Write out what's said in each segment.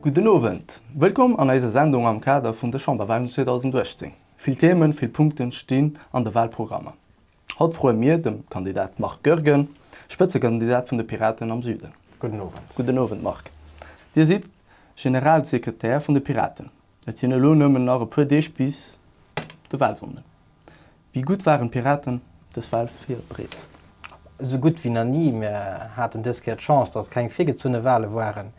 Gudden Owend, wëllkomm an eiser Sendung am Kader vun de Chamberwahlen 2018. Vill Themen, vill Punkten stinn an de Wahlprogrammer. Haut froe mir dem Kandidat Marc Goergen, Spëtzekandidat vun de Piraten am Süden. Gudden Owend. Gudden Owend Marc. Dir sidd Generalsekretär vun de Piraten. Et sinn elo nëmmen nach e puer Deeg bis de Wahlsonnden. Wéi gutt waren d'Piraten dës Wal virbreet? Esou gutt wéi nach ni. Mir haten dës Kéier d'Chance, dass et keng virgezunne Wale waren,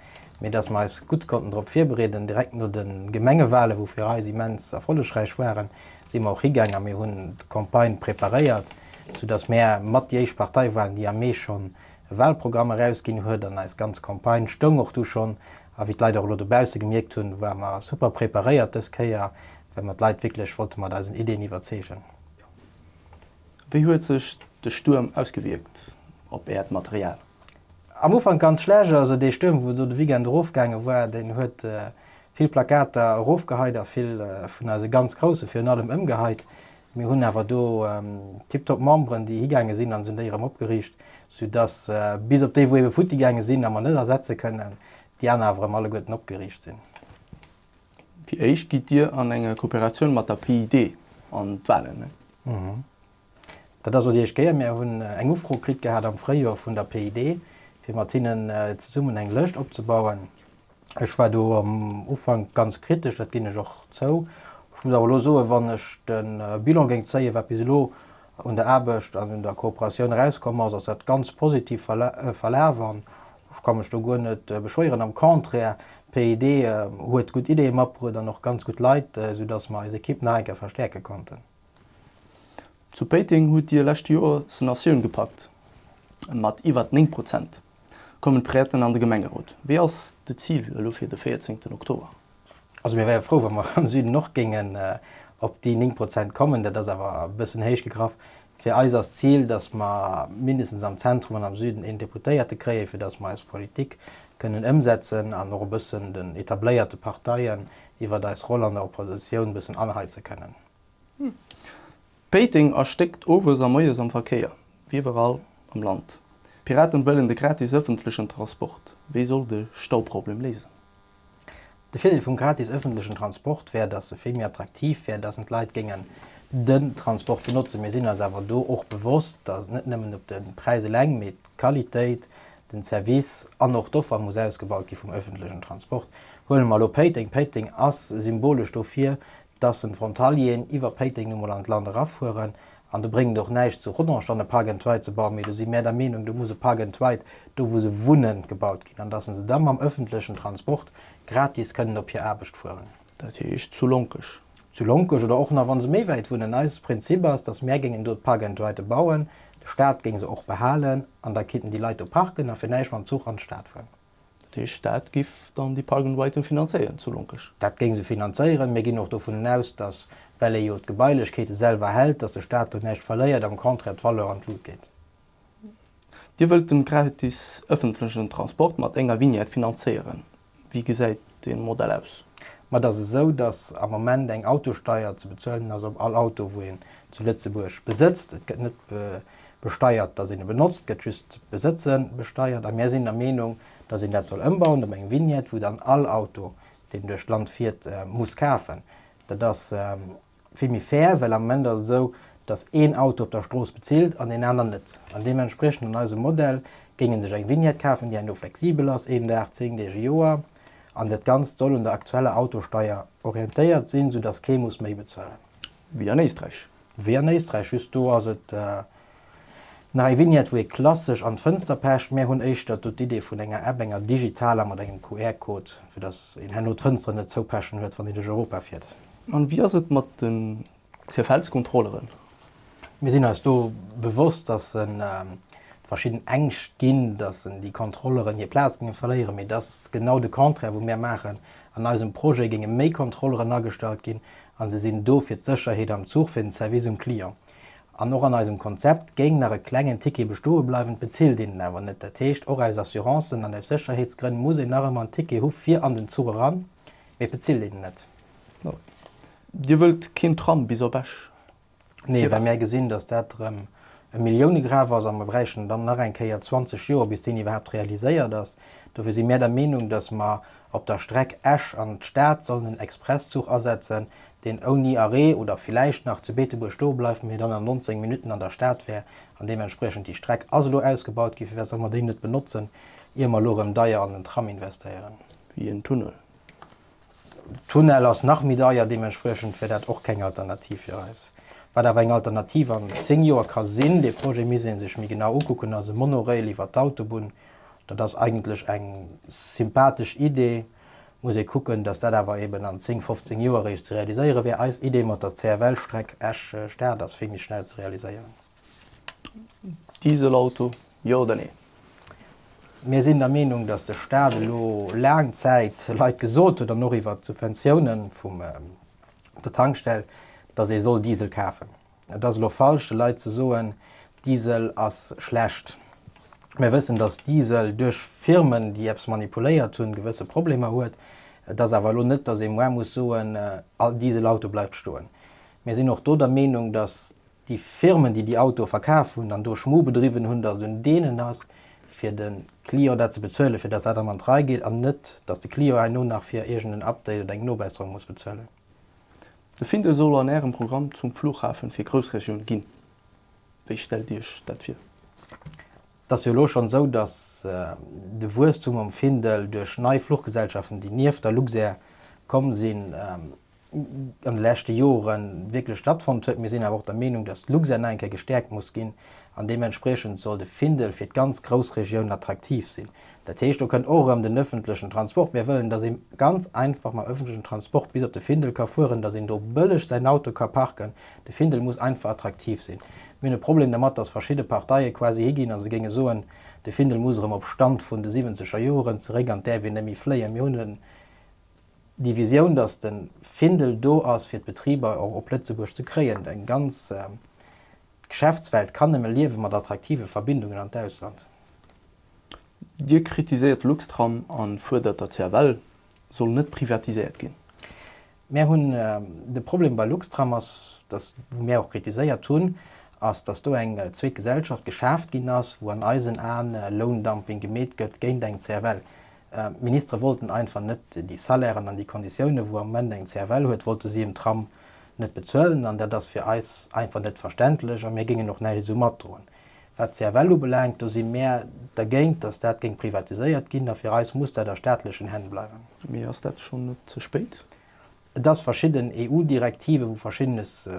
mee dass mir eis gutt konnten drop virbereeden. Direkt no de Gemengewale, wou fir eis immens erfollegräich waren, si mir och higaang a mir hunn d'Campagne preparéiert, sou dass mir mat déi éischt Partei waren, déi am Mee schonn e Walprogramm erausginn huet. An eis ganz Campagne stoung och du schonn A wéi d'Leit och elo dobausse gemierkt hunn, ware mer super preparéiert dës Kéier, well mer d'Leit wierklech wollte mat eisen Iddien iwwerzeegen. Wéi huet sech de Stuerm ausgewierkt op Äert Material? Am Ufank ganz schlecht. Also dee Stuerm, wou elo de Weekend erofgaange war, deen huet vill Plakater erofgeheit a vill vun eise ganz Grousse virun allem ëmgeheit. Mir hunn awer do tiptop Memberen, déi higaange sinn a se hunn déi erëm opgeriicht, soudass bis op déi, wou ebe futtigaange sinn a mer net ersetze kënnen, déi aner awer erëm alleguerten opgeriicht sinn. Fir d'éischt gitt Dir an enger Kooperatioun mat der PID an d'Wahlen. Dat ass elo déi éischt Kéier. Mir hunn eng Ufro kritt gehat am Fréijoer vun der PID, fir mat hinnen zesummen eng Lëscht opzebauen. Ech war do am Ufank ganz kritesch, dat ginn ech och zou. Ech muss awer elo soen, wann ech de Bilan géing zéien, wat bis elo un der Aarbecht an un der Kooperatioun erauskomm ass, ass dat ganz positiv verlaf an ech ka mech do guer net beschwéieren. Am Contraire, d'PID huet gutt Ideeë matbruet an och ganz gutt Leit, soudass mer eis Ekipp nach eng Kéier verstäerke konnten. Zu Péiteng hutt Dir lescht Joer Sonatioun gepackt mat iwwert 9 Prozent. kommen d'Präten an de Gemengerot. Wéi ass de Zil elo fir de 14 Oktober? Also mir wäre frou, wa mer am Süden och géingen op déi 9 Prozent kommen. Dat ass awer e bëssen héich gegraff. Fir eis ass d'Zil, datt mer mindestens am Zentrum an am Süden een Deputéierte kréien, fir datt mer eis Politik kënnen ëmsetzen an och e bëssen den etabléierte Parteien iwwert eis Roll an der Oppositioun e bëssen anheize kënnen. Péiteng erstéckt owes a moies am Verkéier, wéi iwwerall am Land. D'Piraten wëllen de gratis ëffentlechen Transport. Wéi soll de Stauproblem léisen? De Virdeel vum gratis ëffentlechen Transport wär, datt e vill méi attraktiv wär, datt en d'Leit géingen den Transport benotzen. Mir sinn eis awer do och bewosst, datt et net nëmmen op de Präis eleng, mee d'Qualitéit, den Service an och d'Offer muss ausgebaut gi vum ëffentlechen Transport. Huele mer elo Péiteng. Péiteng ass symbolesch dofir, dass en Frontalieren iwwer Péiteng nu mol an d'Land erafueren an do bréngt et och näischt zu Rodange dann e Park and Ride ze bauen, mee do si mär der Meenung, do muss e Park and Ride do wou se wunnen gebaut ginn an dass se da mam öffentlechen Transport gratis kënnen op hir Aarbecht fueren. Dat heescht zu Lonkech? Zu Lonkech oder och nach wann se méi wäit wunnen. Eis Prinzip ass, dass mär géingen do d'Park and Ride bauen, de Staat géing se och behalen an da kinnten déi Leit do parken a fir näischt mam Zuch an d'Stad fueren. De Staat giff dann déi Park and Riden finanzéieren zu Lonkesch? Dat géing se finanzéieren. Mir ginn och dovunnen aus, dass, well ee jo d'Gebailechkeete selwer hält, dass de Staat do näischt verléiert, am Contraire d'Valeur an d'Lut geet. Dir wëllt de gratis ëffentlechen Transport mat enger Vignette finanzéieren. Wéi gesäit dee Modell aus. Mä et ass esou, datt am Moment eng Autosteier ze bezuelen ass op all Auto, wou een zu Lëtzebuerg besëtzt. Et gëtt net besteiert, datt een e benotzt, et gëtt just d'Besëtze besteiert. A mir sinn der Meenung, datt een dat soll ëmbauen op eng Vignette, wou dann all Auto, deen duerch d'Land fiert, muss kafen. Dat ass Vill méi fair, well am Moment ass et esou, datt een Auto op der Strooss bezilt an een aner net. An deementspriechend an eisem Modell géing ee sech eng Vignette kafen, déi eng do flexibel ass, een Dag, zéng Deeg, e Joer, an dat Ganzt soll un der aktueller Autosteier orientéiert sinn, soudatt kee muss méi bezuelen. Wéi an Éisträich. Wéi an Éisträich, just do ass et. Nach eng Vignette wou ee klassesch an d'Fënster pecht. Mär hunn éischter do d'Idee vun enger App, enger digitaler mat engem QR Code, fir dass een herno d'Fënster net zoupechen huet, wann een duerch Europa fiert. An wéi ass et mat den CFLs Kontrolleren? Mir sinn eis do bewosst, dass en verschidden Ängscht ginn, dass en déi Kontrolleren hir Plaz géinge verléieren, mee et ass genau de Contraire wou mär maachen. An eisem Projet géinge méi Kontrolleren agestallt ginn, an se sinn do fir d'Sécherheet am Zuch, fir den Service um Client. An och an eisem Konzept géing nach e klengen Ticket bestoe bleiwen, d'bezilt een en awer net. Dat heescht, och aus Assurancen an aus Sécherheetsgrënn muss een nach ëmmer en Ticket hu fir an den Zuch eran, mee et bezilt een en net. Dir wëllt keen Tram bis op Esch? Nee, well mir gesinn, datt dat erëm e Milliounegraf ass a mer bräichten dann nach eng Kéier 20 Joer, bis deen iwwerhaapt realiséiert ass. Dofir si mir der Meenung, datt mer Op der Streck Esch an d'Stad sollen en Expresszuch asetzen, deen ouni Arrêt oder villäicht nach zu Beetebuerg stoe bleift, mee dann an 19 Minutten an der Stad wär an deementspriechend déi Streck ass elo ausgebaut gi, fir wat solle mer déi net benotzen, ier mer elo erëm deier an den Tram investéieren? Wéi en Tunnel? De Tunnel ass nach méi deier, deementspriechend wär dat och keng Alternativ fir eis. Wat awer eng Alternativ an 10 Joer ka sinn, dee Projet misst ee sech méi genau ukucken, ass e Monorail iwwer d'Autobunn, Dat ass eigentlech eng sympathesch Idee. Muss ee kucken, datt dat awer eben an 10, 15 Joer eréischt ze realiséiere wär. Eis Idee mat der CFL-Streck Esch, Stad ass vill méi schnell ze realiséieren. Dieselauto, jo oder nee? Mir sinn der Meenung, datt de Stat elo laang Zäit Leit gesot huet, an och iwwert d'Subventiounen vum der Tankstell, datt ee soll Diesel kafen. Et ass elo falsch de Leit ze soen, Diesel ass schlecht. Mir wëssen, datt Diesel duerch Firmen, déi eppes manipuléiert hunn, gewësse Problemer huet. Et ass awer elo net, datt ee moar muss soen, all Dieselauto bleift stoen. Mir sinn och do der Meenung, datt déi Firmen, déi déi Autoe verkaf hunn an do Schmu bedriwwen hunn, datt et un deenen ass fir de Client dat ze bezuelen, fir datt dat erëm an d'Rei geet an net, datt de Client herno nach fir iergend en Update oder eng Nobesserung muss bezuelen. De Findel soll an Ärem Programm zum Flughafen fir Groussregioun ginn. Wéi stellt Dir Iech dat vir? Et ass jo elo schonn esou, datt de Wuesstum am Findel duerch nei Fluchgesellschaften, déi nieft der Luxair komm sinn, an de leschte Jore wierklech stattfonnt huet. Mir sinn awer och der Meenung, datt d'Luxair nach eng Kéier gestäerkt muss ginn an deementspriechend soll de Findel fir d'ganz Groussregioun attraktiv sinn. Dat heescht, do kënnt och erëm den öffentlechen Transport. Mir wëllen, dass ee ganz einfach mam öffentlechen Transport bis op de Findel ka fueren, dass een do bëlleg säin Auto ka parken. De Findel muss einfach attraktiv sinn. Mir hunn e Problem dermat, dass verschidde Parteie quasi higinn a se géinge soen, de Findel muss erëm op Stand vun de siwwenzeger Joren zeréck an d'äerf een net méi fléien. Mir hunn déi Visioun, dass de Findel do ass, fir d'Betriber och op Lëtzebuerg ze kréien. Eng ganz Geschäftswelt kann nëmme liewe mat attraktive Verbindungen an d'Ausland. Dir kritiséiert Luxtram a fuerdert der CFL soll net privatiséiert ginn. Mär hunn, de Problem bei Luxtram ass, datt, wou mär och kritiséiert hunn, ass, datt do eng zweet Gesellschaft geschaaft ginn ass, wou an eisen Aen Loundumping gemeet gëtt géint eng CFL. D'Ministere wollten einfach net déi Salairen an déi Konditiounen, wou am Moment eng CFL huet, wollte si em Tram net bezuelen. An dat ass fir eis einfach net verständlech a mir géingen och näischt esou matdroen. Wat d'CFL ubelaangt, do si mär dergéint, dass dat géing privatiséiert ginn, a fir eis muss dat a staatlechen Hänn bleiwen. Mee ass dat schonn net ze spéit? Et ass verschidden EU-Direktiven, wou Verschiddenes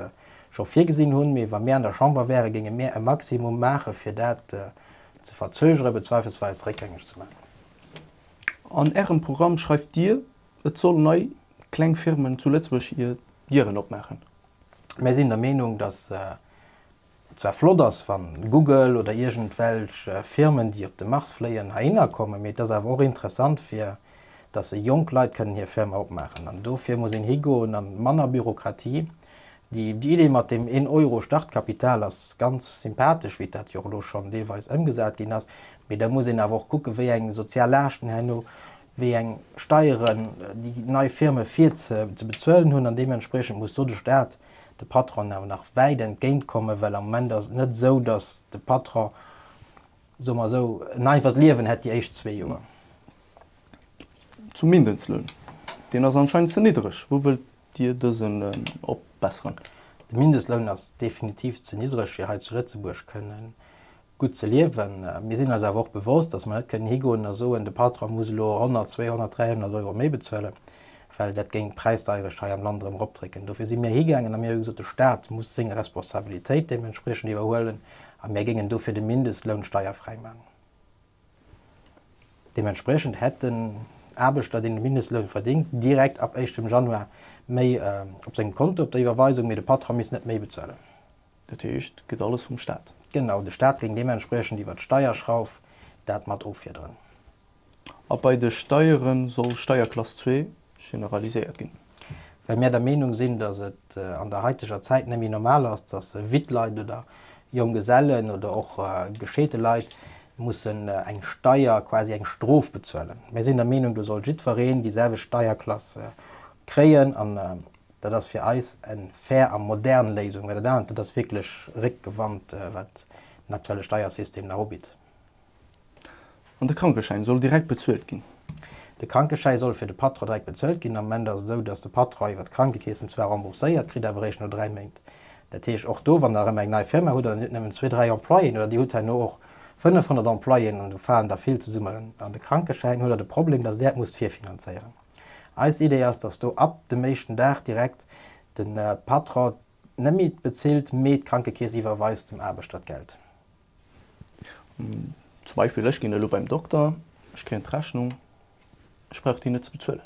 scho virgesinn hunn, mee wa mir an der Chamber wären, géinge mir e Maximum maachen, fir dat ze verzögere bezweifelsweis réckgängeg ze maachen. An Ärem Programm schreift Dir, et soll nei kleng Firmen zu Lëtzebuerg hir Dieren opmaachen. Mir sinn der Meenung, dass zwar flott ass, wann Google oder iergendwelch Firmen, déi op de Mars fléien, heihinner kommen, mee et ass awer och interessant, fir dass se jonk Leit kënnen hir Firma opmaachen. An dofir muss een higoen an manner Bürokratie. Déi Idee mat deem een Euro Startkapital ass ganz sympathesch, wéi dat jo och elo schonn deelweis ëmgesat ginn ass, mee da muss een awer och kucken, wéi eng sozial Laaschten herno, wéi eng Steieren déi nei Firme fir ze bezuelen hunn. An deementspriechend muss do de Stat de Patronen awer nach wäit entgéint kommen, well am Moment ass et net esou, datt de Patron, soe mer esou, en einfacht Liewen hätt déi éischt zwee Joer. Zum Mindestloun, deen ass anscheinend ze niddreg. Wou wëllt Dir dësen opbesseren? De Mindestloun ass definitiv ze niddreg, fir hei zu Lëtzebuerg kënnen gutt ze liewen. Mir sinn eis awer och bewosst, datt mer net kënnen higoen a soen, de Patron muss elo 100, 200, 300 Euro méi bezuelen, well dat géing d'Präisdeierecht hei am Land erëm eropdrécken. Dofir si mir higaangen a mir hu gesot, de Staat muss seng Responsabilitéit deementspriechend iwwerhuelen a mir géingen dofir de Mindestloun steierfräi maachen. Deementspriechend hätt den Aarbechter, deen de Mindestloun verdéngt, direkt ab éischtem Januar méi op sengem Konto op der Iwwerweisung, mee de Patron misst net méi bezuelen. Dat heescht, et gëtt alles vum Staat? Genau, de Staat géing deementspriechend iwwer d'Steierschrauf dat mat offiederen. A bei de Steiere soll Steierklass zwee generaliséiert ginn? Well mir der Meenung sinn, datt et an der haiteger Zäit net méi normal ass, datt witt Leit oder Jonggesellen oder och gescheete Leit mussen eng Steier, quasi eng Strof bezuelen. Mir sinn der Meenung, do soll jiddwereen déi selwecht Steierklass kréien. Dat ass fir eis eng fair a modern Léisung, well dat anert, dat ass wierklech réckgewannt, wat den aktuelle Steiersystem nach ubitt. An de Krankeschäin soll direkt bezuelt ginn? De Krankeschäi soll fir de Patron direkt bezuelt ginn. Am Moment ass et esou, datt de Patron iwwert d'Krankekeess en zwar rembourséiert kritt, awer eréischt no dräi Méint. Dat heescht, och do, wann Der erëm eng nei Firma hutt an Dir hutt nëmmen zwee, dräi Employéen, oder Dir hutt herno och 500 Employéen an do falen der vill zesummen an de Krankeschäin, huet Der de Problem, datt Der et musst virfinanzéieren. Eis Idee ass, dass do ab dem éischten Dag direkt de Patron net méi bezilt, mee d'Krankekeess iwwerweist dem Aarbechter d'Geld. Zum Beispill, ech ginn elo beim Dokter, ech kréien d'Rechnung, ech brauch déi net ze bezuelen.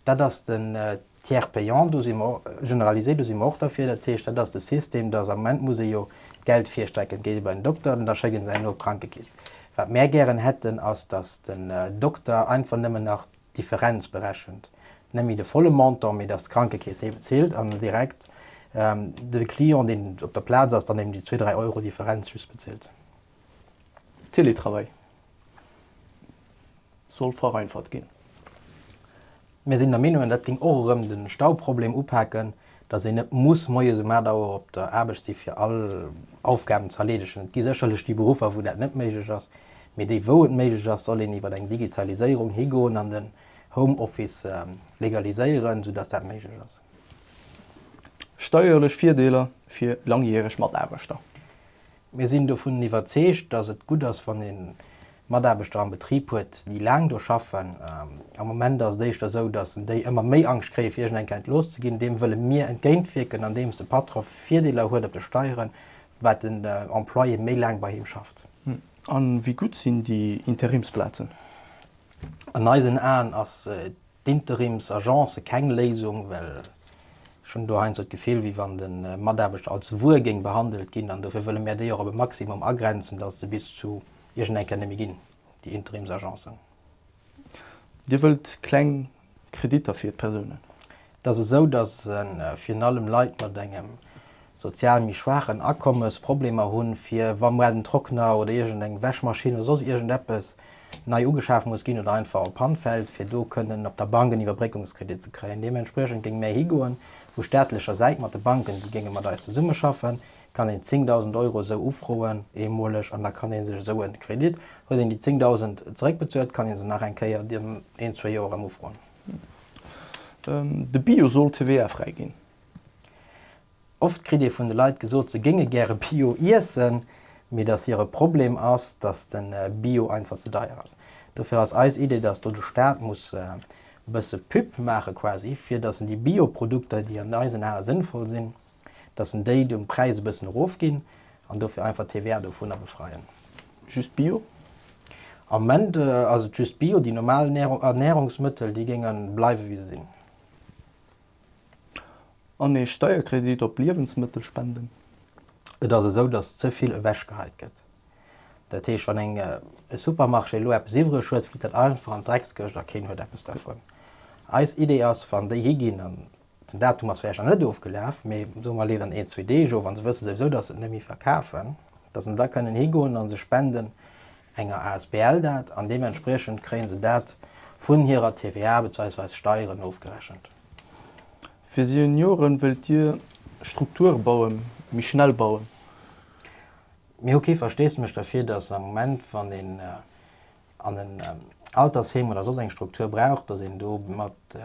Dat ass den Tiers payant, do si mer generalisé, do si mer och derfir. Dat heescht, dat ass de System, dass am Moment muss ee jo d'Geld virstrecken. Et geet ee bei den Dokter an da schécke se engem op d'Krankekeess. Wat mär gären hätten, ass, dass den Dokter einfach nëmmen nach Differenz berechent, net méi de volle Montant, mee dass d'Krankekeess ee bezilt an direkt de Client, deen op der Plaz ass, dann eben déi zwee, dräi Euro Differenz just bezilt. Télétravail soll vereinfacht ginn. Mir sinn der Meenung, dat géing och erëm de Stauproblem upaken. Dass een net muss moies um 8 Auer op der Aarbecht si fir all Aufgaben ze erleedegen. Et gi sécherlech déi Beruffer, wou dat net méiglech ass, mee déi, wou et méiglech ass, soll een iwwer eng Digitaliséierung higoen an den Home Office legaliséieren, soudass dat méiglech ass. Steierlech Virdeeler fir laangjäreg Mataarbechter. Mir sinn dovun iwwerzeegt, dass et gutt ass, wann ee Mataarbechter am Betrib huet, déi laang do schaffen. Am Moment ass et éischter esou, dass déi ëmmer méi Angscht kréien, fir iergend eng Kent looss ze ginn. Deem wëlle mir entgéintwierken, andeems de Patron Virdeeler huet op de Steieren, wat den Employé méi laang bei him schafft. A wéi gutt sinn déi Interimsplazen? An eisen Aen ass d'Interims Agence keng Léisung, well ech hunn do heiansdo d'Gefill wéi wann de Mataarbechter als Wuer géing behandelt ginn an dofir wëlle mär déi och op e Maximum agrenzen, datt et se bis zu iergend eng Kéier net méi ginn, déi Interims Agencen. Dir wëllt kleng Kreditter fir d'Persounen? Et ass esou, datt e virun allem Leit mat engem sozial méi schwaach an Akommes Problemer hunn, fir wa mual den Trockner oder iergend eng Wäschmaschinn oder soss iergend eppes nei ugeschaf muss ginn oder einfach op Pann fält, fir do kënnen op der Bank en Iwwerbréckungskredit ze kréien. Deementspriechend géing méi higoen. Vu staatlecher Säit, mat de Banken, déi géinge mat eis zesummeschaffen, kann een 10.000 Euro esou ufroen, eemoleg, an da kann ee sech esou e Kredit, huet een déi 10.000 zeréckbezuelt, kann ee se nach eng Kéier an een, zwee Joer erëm ufroen. De Bio soll TVA-fräi ginn. Oft kritt ee vun de Leit gesot, se géinge gäre Bio iessen, mee datt hire Problem ass, datt de Bio einfach ze deier ass. Dofir ass eis Idee, datt do de Staat muss e bësse Pub maache quasi, fir datt en déi Bio-Produkter, déi an eisen Ae sënnvoll sinn, datt en déi de Präis e bëssen erofginn an dofir einfach d'TVA dovunner befreien. Just Bio? Am Moment ass et just Bio. Déi normal Ernährungsmëttel, déi géinge bleiwe wéi se sinn. An ee Steierkredit op Liewensmëttel spenden. Et ass esou, datt ze vill ewechgeheit gëtt. Dat heescht, wann eng e Supermarché elo eppes iwwereg huet, flitt dat einfach an d'Dreckskëscht a keen huet eppes dervun. Eis Idee ass, wann déi hi ginn, an den Datum ass vläicht nach net ofgelaf, mee soe mer leeft an een, zwee Deeg of, a se wësse souwisou, datt se et net méi verkafen, datt se da kënnen higoen a se spenden, enger Asbl dat an deementspriechend kréie se dat vun hirer TVA bezweisweis Steieren ofgerechent. Fir Senioren wëllt Dir Strukture bauen, méi schnell bauen? Mir hu kee Versteesdemech derfir, datt am Moment, wann een an en Altersheem oder soss eng Struktur brauch, datt een do mat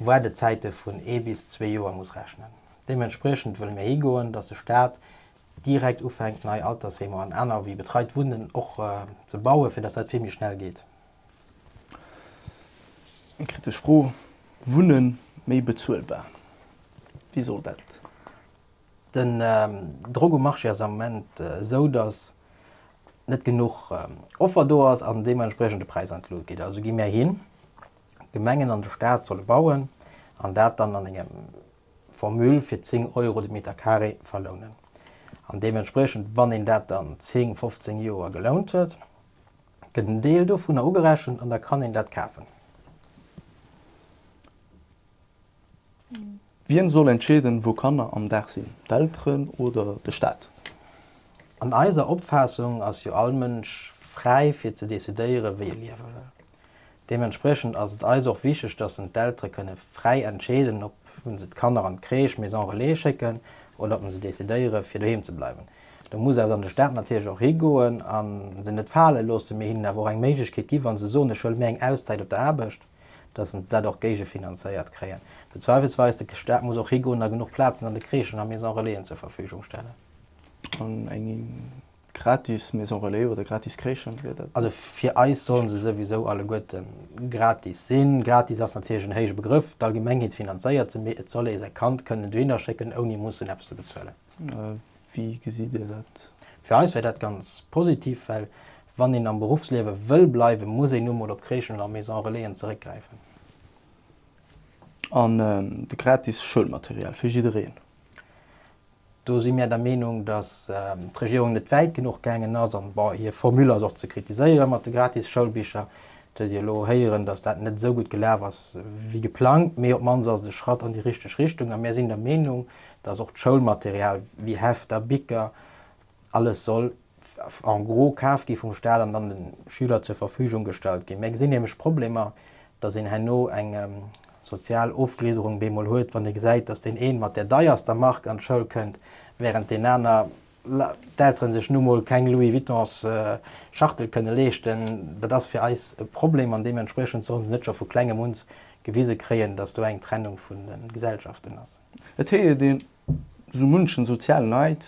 Waardezäite vun ee bis zwee Joer muss rechnen. Deementspriechend wëlle mir higoen, datt de Staat, direkt ufänkt nei Altersheemer an aner wéi betreit Wunnen och ze bauen, fir datt dat vill méi schnell geet. Eng kritesch Fro, Wunne méi bezuelbar, wéi soll dat? Den Drock um Marché ass am Moment esou, datt net genuch Offer do ass an deementspriechend de Präis an d'Lut geet. Also gi mär hin, d'Gemengen an de Staat solle bauen an dat dann an engem Formule fir 10 Euro de Meter Carré verlounen. An deementspriechend, wann een dat dann 10, 15 Joer gelount huet, gëtt en Deel dovunner ugerechent an da kann een dat kafen. Wien soll entscheeden, wou Kanner am Dag sinn, d'Elteren oder de Staat? An eiser Opfaassung ass jo all Mënsch fräi fir ze decidéieren, wéi e liewe wëll. Deementspriechend ass et eis och wichteg, dass en d'Eltere kënne fräi entscheeden, ob en se d'Kanner an d'Crèche, Maison Relais schécken oder ob en se decidéiere fir doheem ze bleiwen. Do muss eis an de Staat natierlech och higoen a se net fale loossen, mee hinnen awer och eng Méiglechkeet ginn, wa se soen, ech wëll méi eng Auszäit op der Aarbecht, dass en se dat och géigefinanzéiert kréien. Mee zweifelsweis, de Staat muss och higoen a genuch Plazen an de Crèchen a Maison Relaisen zur Verfügung stellen. Gratis Maison Relais oder gratis Crèchen, wier dat Also net? fir eis sollen se souwisou alleguerten gratis sinn. Gratis ass natierlech en héije Begrëff, d'Allgemengheet finanzéiert se, mee et soll ee säi Kand kënnen dohinner schécken, ouni mussen eppes ze bezuelen. Wéi gesitt Dir dat? Fir eis wär dat ganz positiv, well wann een am Beruffsliewe wëll bleiwen, muss een nu mol op Crèchen oder Maison Relaisen zeréckgräifen. An de gratis Schoulmaterial fir jiddereen? Do si mir der Meenung, datt d'Regierung net wäit genuch gaangen ass. An bon, hir Formule ass och ze kritiséiere mat de gratis Schoulbicher. Et huet ee lo héieren, datt dat net esou gutt gelaf ass wéi geplangt, mee op d'mannst ass et e Schratt an déi richteg Richtung. A mir sinn der Meenung, datt och d'Schoulmaterial wéi Hefter, Bicker, Alles soll en gros kaf gi vum Staat an dann de Schüler zur Verfügung gestallt ginn. Mir gesinn nämlech Problemer, dass een herno eng sozial Ofgliederung bemol huet, wann ee gesäit, dass deen een mat där deierster Mark an d'Schoul kënnt, während deen aner, d'Elteren sech nu mol keng Louis Vuittons Schachtel kënne leeschten. Dat ass fir eis e Problem an deementspriechend sollen se net scho vu klengem uns gewise kréien, dass do eng Trennung vun de Gesellschaften ass. Et heejet een, Sou munchen sozialen Neid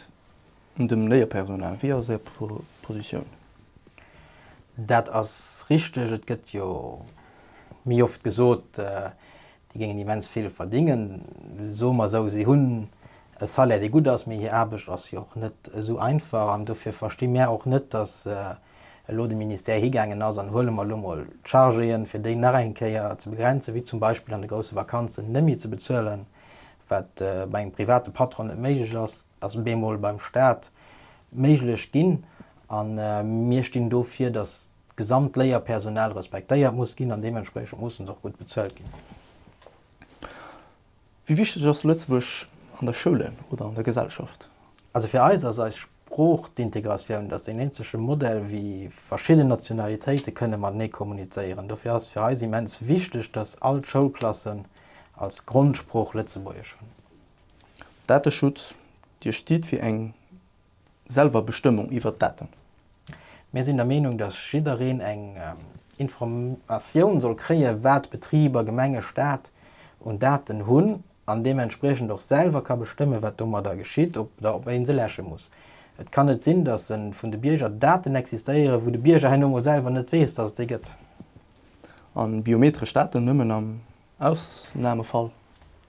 un dem Léierpersonal. Wéi ass Är Positioun? Dat ass richteg. Et gëtt jo méi oft gesot, déi géingen immens vill verdingen. Soe mer esou, si hunn e Salaire, dee gutt ass, mee hir Aarbecht ass jo och net esou einfach. An dofir versti mär och net, datt elo de Ministère higaangen ass, an huele mer elo mol d'Chargéen, fir déi nach eng Kéier ze begrenzen, wéi zum Beispill an de grousse Vakanzen, net méi ze bezuelen, Wat bei engem private Patron net méiglech ass, ass bemol beim Staat méiglech ginn. A mir stinn dofir, datt d'gesamt Léierpersonal respektéiert muss ginn an deementspriechend mussen se och gutt bezuelt ginn. Wéi wichteg ass Lëtzebuerg an der Schoule oder an der Gesellschaft? Also fir eis ass eis D'Sprooch, d'Integratioun, dat ass deen eenzege Modell, wéi verschidden Nationalitéite kënne matenee kommunizéieren. Dofir ass et fir eis immens wichteg, datt all d'Schoulklassen als Grondsprooch Lëtzebuergesch hunn. Dateschutz, Dir stitt fir eng Selwerbestëmmung iwwert d'Daten. Mir sinn der Meenung, datt jiddereen eng Informatioun soll kréien, wat Betriber, Gemenge, Staat un Daten hunn an deementspriechend och selwer ka bestëmmen, wat domadder geschitt, ob oder ob een se läsche muss. Et kann net sinn, dass en vun de Bierger Daten existéieren, wou de Bierger herno emol selwer net weess, dass et déi gëtt. A biometresch Daten nëmmen am Ausnamefall?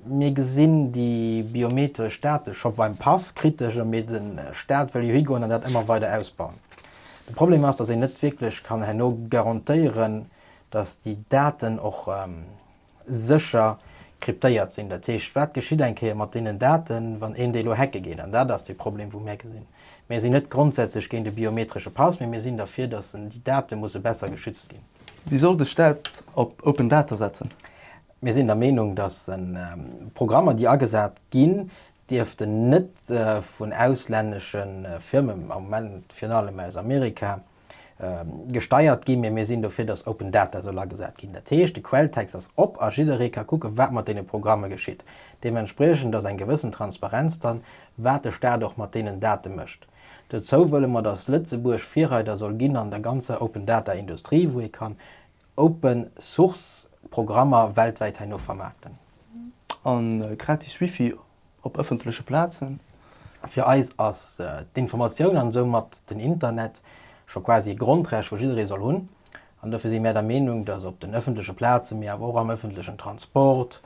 Mir gesinn déi biometresch Date scho beim Pass kritesch a mir, de Stat, wëll jo higoen an dat ëmmer weider ausbauen. De Problem ass, dass een net wierklech kann herno garantéieren, dass déi Daten och sécher kryptéiert sinn. Dat heescht, wat geschitt eng Kéier mat deenen Daten, wann een déi elo hacke geet? An dat ass dee Problem, wou mär gesinn. Mir sinn net grondsätzlech géint e biometresche Pass, mee mir sinn derfir, datt déi Date musse besser geschützt ginn. Wéi soll de Staat op Open Data setzen? Mir sinn der Meenung, datt Programmer, déi agesat ginn, dierften net vun auslännesche Firmen, am Moment virun allem aus Amerika, gesteiert ginn, mee mir sinn dofir, datt Open Data soll agesat ginn. Dat heescht, de Quelltext ass op a jidderee ka kucken, wat mat deene Programme geschitt. Deementspriechend ass eng gewëssen Transparenz dran, wat de Staat och mat deenen Date mécht. Dozou wëlle mer, datt Lëtzebuerg Virreider soll ginn an der ganzer Open Data Industrie, wou ee kann Open Source Programmer weltwäit herno vermaarten. A gratis Wifi op ëffentleche Plazen. Fir eis ass d'Informatioun an soumat den Internet scho quasi e Grondrecht, wou jidderee soll hunn. An dofir si mär der Meenung, dass op den ëffentleche Plazen, mee awer och am ëffentlechen Transport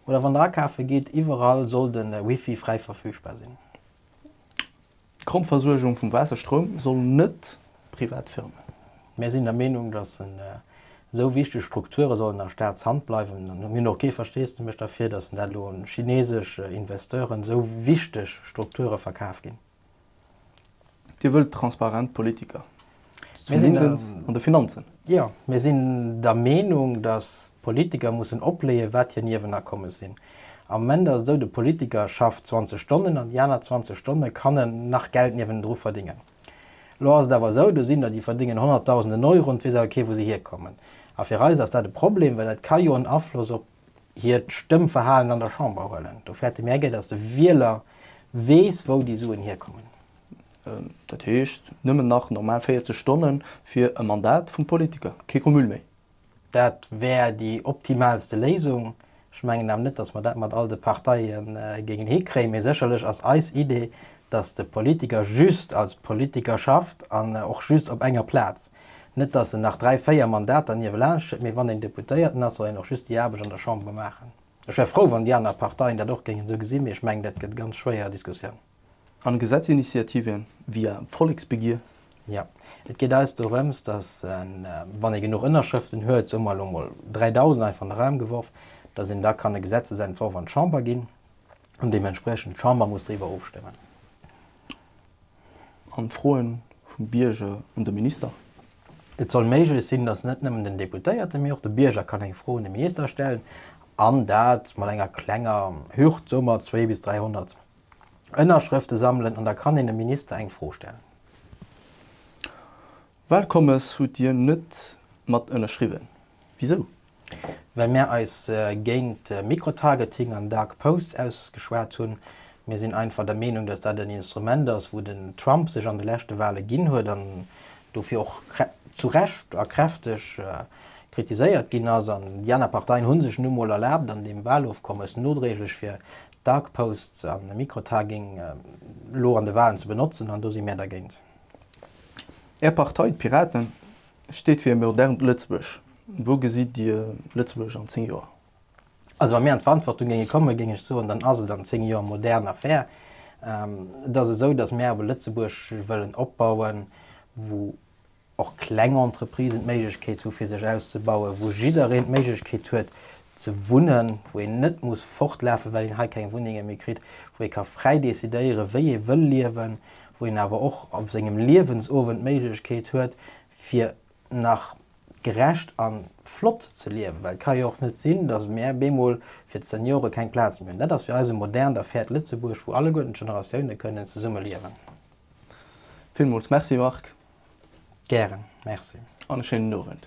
oder wann Der akafe gitt, iwwerall sollt de Wifi fräi verfügbar sinn. D'Grondversuergung vum Waasser, Stroum soll net privat Firmen. Mir sinn der Meenung, datt esou wichteg Strukture sollen a Staatshand bleiwen. Mir hunn och kee Versteesdemech derfir, datt dat elo un chinesesch Investeuren esou wichteg Strukture verkaf ginn. Dir wëllt transparent Politiker. Zumindest an de Finanzen. Jo, mir sinn der Meenung, datt d'Politiker mussen opleeën, wat hir Niewenakommes sinn. Am Moment ass et esou, de Politiker schafft 20 Stonnen an déi aner 20 Stonne kann en nach Geld niewendru verdéngen. Elo ass et awer esou, do sinn der, déi verdéngen Honnertdausenden Euro an et weess awer kee wou se hierkommen. A fir eis ass dat e Problem, well dat ka jo en Afloss op hiert Stëmmverhalen an der Chamber huelen. Do fäerte mir enkéier, datt de Wieler weess, wou déi Suen hierkommen. Dat heescht, nëmmen nach normal 40 Stonne fir e Mandat vum Politiker, kee Cumul méi. Dat wär déi optimaalste Léisung. Ech mengen awer net, datt mer dat mat all de Parteie géingen hikréien. Mee sécherlech ass eis Idee, datt de Politiker just als Politiker schafft an och just op enger Plaz. Net datt en nach dräi, véier Mandater niewelaanscht huet, mee wann een Deputéierten ass, soll een och just déi Aarbecht an der Chamber maachen. Ech wär frou, wann déi aner Parteien dat och géingen esou gesinn, mee ech mengen, dat gëtt e ganz schwéier Diskussioun. An Gesetzinitiative via Volleksbegier? Jo. Et geet eis dorëms, datt een, wann ee genuch Ënnerschrëften huet, soe mer elo emol 3.000 einfach an de Raum geworf, datt een da kann e Gesetzesentworf an d'Chamber ginn an deementspriechend d'Chamber muss driwwer ofstëmmen. an d'Froe vum Bierger un de Minister. Et soll méiglech sinn, datt net nëmmen den Deputéierte mee och de Bierger kann eng Fro un de Minister stellen, an dat mat enger klenger Hürd, soe mer zwee bis 300 Ënnerschrëfte sammelen, an da kann een dem Minister eng Fro stellen. Walkommes hutt Dir net mat ënnerschriwwen. Wisou? Well mär eis géint Microtargeting an Dark Posts ausgeschwat hunn. Mir sinn einfach der Meenung, datt dat en Instrument ass, wou den Trump sech an de leschte Wale ginn huet an dofir och zu Recht a kräfteg kritiséiert ginn ass. An déi aner Parteien hu sech nu mol erlaabt, an deem Walofkommes nodréiglech fir Dark Posts a Microtargeting elo an de Walen ze benotzen. An do si mär dergéint. Är Partei, d'Piraten, steet fir e modernt Lëtzebuerg. Wou gesitt Dir Lëtzebuerg an 10 Joer? Also wa mir an d'Verantwortung géinge kommen, géing ech soen, dann ass et an 10 Joer modern a fair. Et ass esou, datt mir awer e Lëtzebuerg wëllen opbauen, wou och kleng Entreprisen d'Méiglechkeet hu fir sech auszebauen, wou jiddereen d'Méiglechkeet huet ze wunnen, wou een net muss fortlafen, well een hei keng Wunnenge méi kritt, wou ee ka fräi decidéieren, wéi ee wëll liewen, wou een awer och op sengem Liewensowend d'Méiglechkeet huet, fir nach gerecht a flott ze liewen. Well et ka jo och net sinn, dass mär bemol fir d'Seniore keng Plaz méi hunn. Dat ass fir eis e modernt a fairt Lëtzebuerg, wou alleguerten d'Generatioune kënnen zesumme liewen. Villmools Merci, Marc. Gären. Merci. An e schéinen Owend.